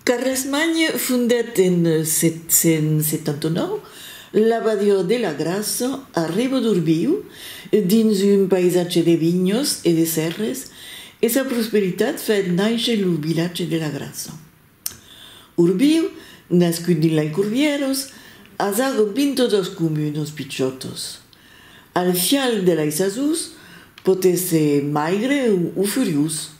Carlesmagne fondet en 779, l'abadiá de la Grassa, a Ribadorbiu, dins un païsatge de vinhos e de sèrres e sa prosperitat fait nàisher lo vilatge de la Grassa. Urbiu, nascut dins lei Curvieros, as ago 22 comunos pichotos. Al fial de lei sasús pòt èsser maigre o furiós.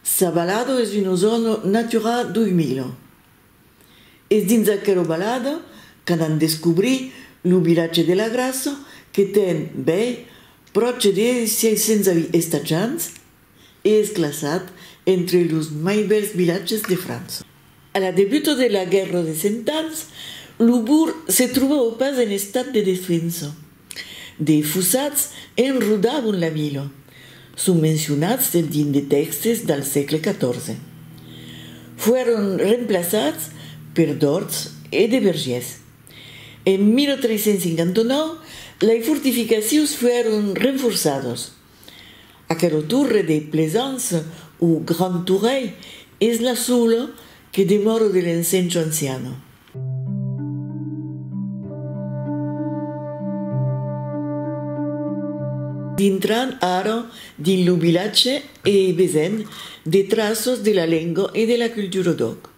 Sabalado es una zòna Natura 2000. Es dins aquela balada qu'anam descobrir lo vilatge de la Grassa que ten, bèi, pròche de 600 estatjants. e es classat entre los mai bèls vilatges de França. A la debuta de la Guèrra de Cent Ans, lo bourg se trobava pas en estat de destruença. De fossats enrodavan la vila, son mencionats dins de tèxtes del sègle XIV. Foron remplaçats per d'òrts e de vergièrs. En 1359, lei fortificacions foron renforçadas. Aquela torre de Plaisance o Grand Tourèi es la sola que demòra de l'ensencho anciana. Dintran ara dins lo vilatge e vesent de traços de la lenga e de la cultura d'òc.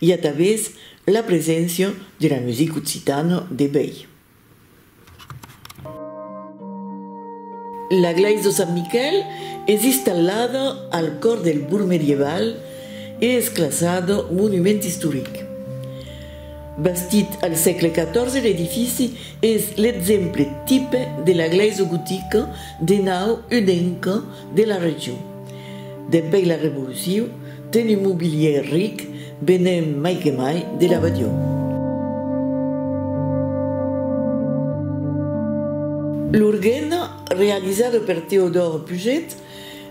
I a tavés la preséncia de la music occitana de bèi. La glais de Sant Miquel es istallada al còr del bourg medieval e es classada monument istoric. Bastit al sègle 14 l'edifici es l'exemple tipe de la glais gotica de nau unenca De la region. Dempèi la revoluciu, ten un mobilièr ric venent mai que mai de la Badion. L'organa, realizada per Teodor Puget,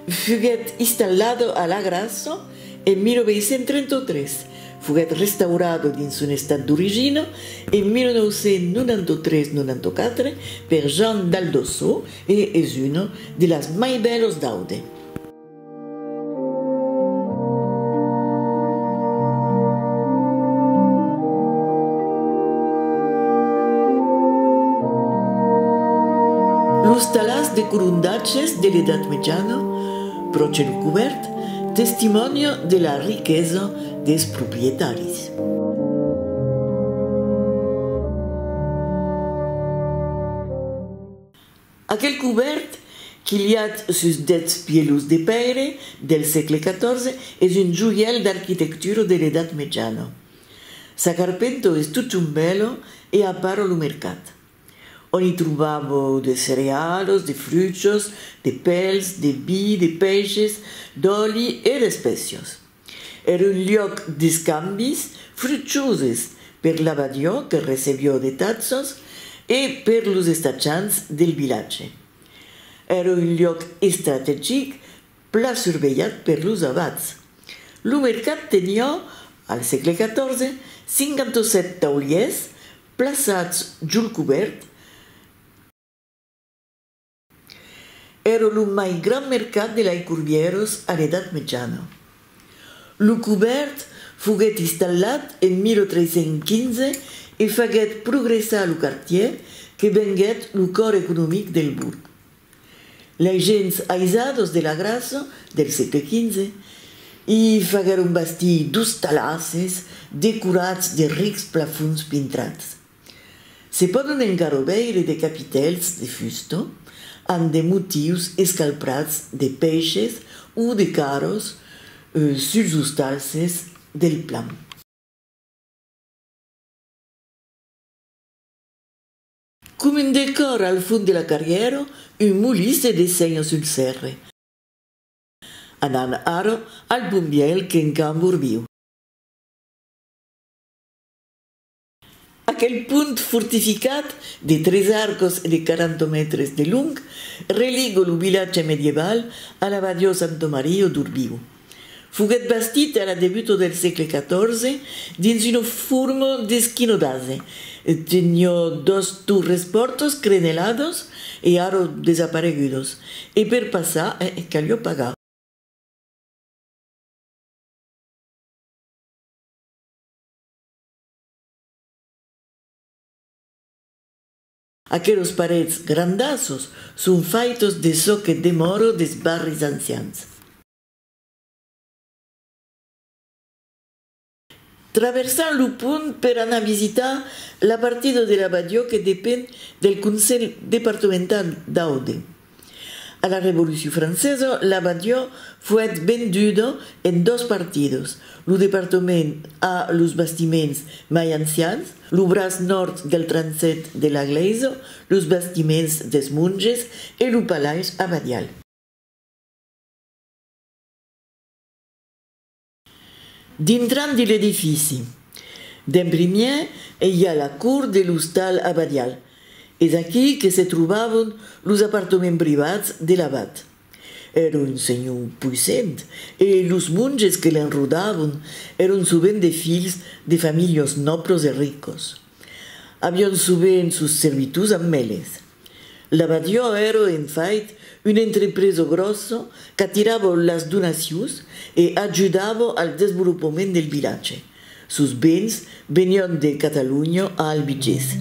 fuguèt installada a la Grassa en 1833, foguèt restaurada dins son estat d'origina en 1993-94 per Jean Daldosso, E es un de las mai bèlos d'Aude. Los talhas de colondatges de l'Edat Mejana, pro cèl cubèrt, testimònia de la riquesa des proprietaris. Aquel cobèrt, quilhat sus dètz pièlhos de pèire del sègle XIV, es un joièl d'arquitectura de l'Edat Mejana. Sa carpenta es totun bèla e a part lo mercat, ont i trobava de cerealas, de fruchas, de pèls, de vi, de pèishes, d'òli e d'espècias. Er un liòc d'escambis fruchoses per l'abadiò que recebió de tatzos e per los estatjants del vilatge. Era un liòc estrategic pla survelhat per los abats. Lo mercat tenió, al sègle 14, 57 taulièrs plaçats jol cobèrt, Èra lo mai grand mercat de Laicorbièros a l'Edat Mejana. Lo cobèrt foguèt installat en 1315 e faguèt progressar lo quartièr que venguèt lo còr economic del bourg. Lei gents aisados de la Grassa del sègle XV i faguèron bastir d'ostalasses decorats de rics plafons pintrats. Se pòdon encara veire de capitèls de fusta amb de motius escalprats de pèishes o de carros suls ostalses del plan. Com un decòr al fond de la carrièra, un molí se dessenha sul sèrre. Anam ara al bon biais qu'encambordiu. Aquel pont fortificat de tres arcos e de 40 mètres de long religue lo vilatge medieval a la badiò Santo Mario d'Urbiu. Foguèt bastit a la debuta del sègle 14 dins una forma d'esquinodase, teniot dos torres pòrtas creneladas e ara desaparegudas, e per passar caliá pagar. Aquelos parets grandassos son faitos de çò que demòro des barris ancians. Traversam lo pont per anar visitar la partida de la Badiò que depend del Conselh Departemental d'Aude. A la Revolucion francesa, la Badiò foèt venduda en dos partidas, lo departament a los bastiments mai ancians, lo braç nòrd del transsèt de la glèisa, los bastiments dels monges e lo palais abadial. Dintrant de l'edifici, d'en primièr e i a la cour de l'ostal abadial. Es aquí que se trobavon los apartaments privats de l'abat. Èra un senhor puissent e los monges que l'enrodavon èran sovent de filhs de familhons nòblos e ricos. Avián sovent sos servitors amb eles. La ràdio èra en fait una entrepresa gròssa qu'atirava las donacions e ajudava al desvolopament del vilatge. Sos bens venián de Catalonha a Albigés.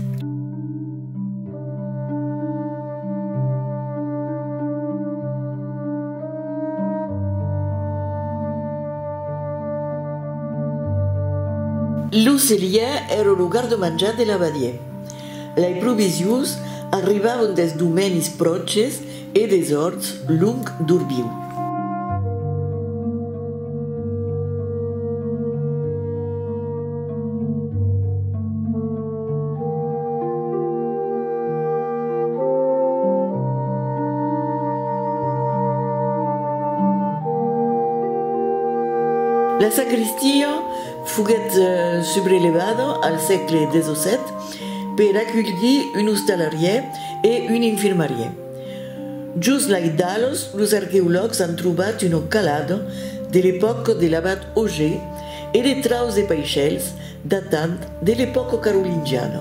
Lo cellièr èra lo garda-manjar de la ràdio. Lei provisions arribavan des domenis pròches e des orts long d'Orbiu. La sacristia Foguèt subrelévat al sègle xvii per aculhir un ostalarièr e un infirmarièr. Jos lai d'Alos los arqueològs an trobat una calada de l'epòca de l'abat Auger e de traus de paishèls datant de l'epòca carolingiana.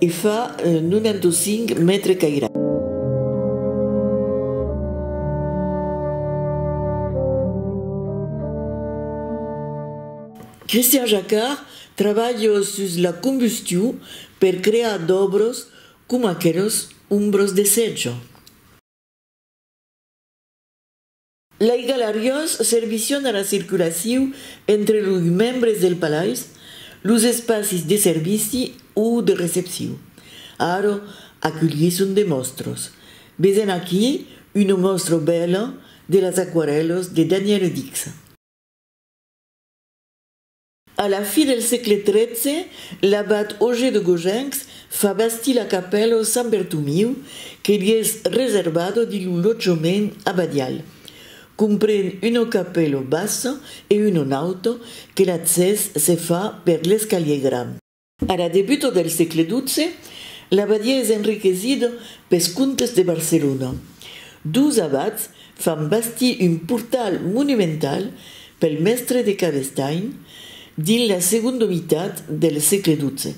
E fa 95 mètres cairats. Christian Jacquard trabalha sus la combustion per crear d'òbros coma aqueles ombros de sètja. Lei galariás servission a la circulaciu entre loi membres del palais, los espacis de servici o de recepciu. Ara aculhisson de mòstros. Vesen aquí una mòstra bèla de las aquarèlas de Danièle Dicsa. A la fi del sègle tretze, l'abat Auger de Gogencs fa bastir la capèla o Sant Bertomiu que li es reservado dins lo lotjament abadial. Compren una capèla bassa e una nauta que l'accès se fa per l'escalier grand. A la debuta del sègle xii, l'abadia es enriquesida pes comtes de Barcelona. Dus abats fan bastir un portal monumental pel mèstre de Cabestany dins la segonda mitat del sègle xii.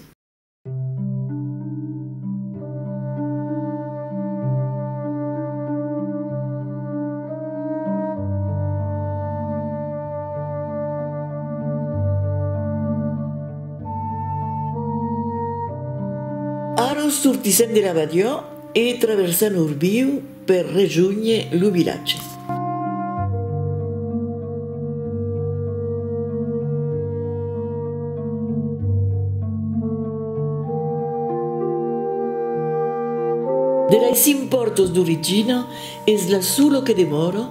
Ara sortissèm de la badiá e traversam Orbiu per rejónher lo vilatge. De lei cinc pòrtas d'origina es la sola que demòra.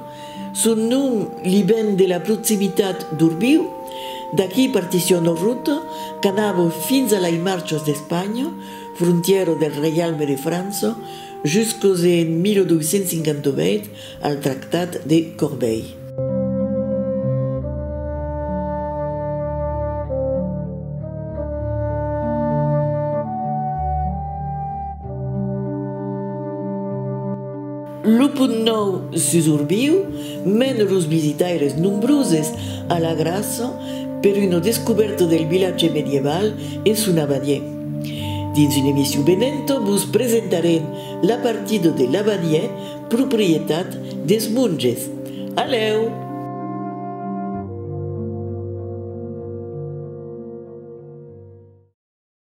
Son nom li ven de la proximitat d'Urbiu, d'aquí partisson o ruta qu'anava fins a lei Marchas d'Espanha, frontièra del Reialme de França, jusques en 1258 al Tractat de Corbeil. Lo punt nòu sus Orbiu mena los visitaires nombroses a la gràcia per una descubèrta del vilatge medieval e son abadiè. Dins una emission venenta vos presentarem la partida de l'abadiè proprietat des monges. Alèu!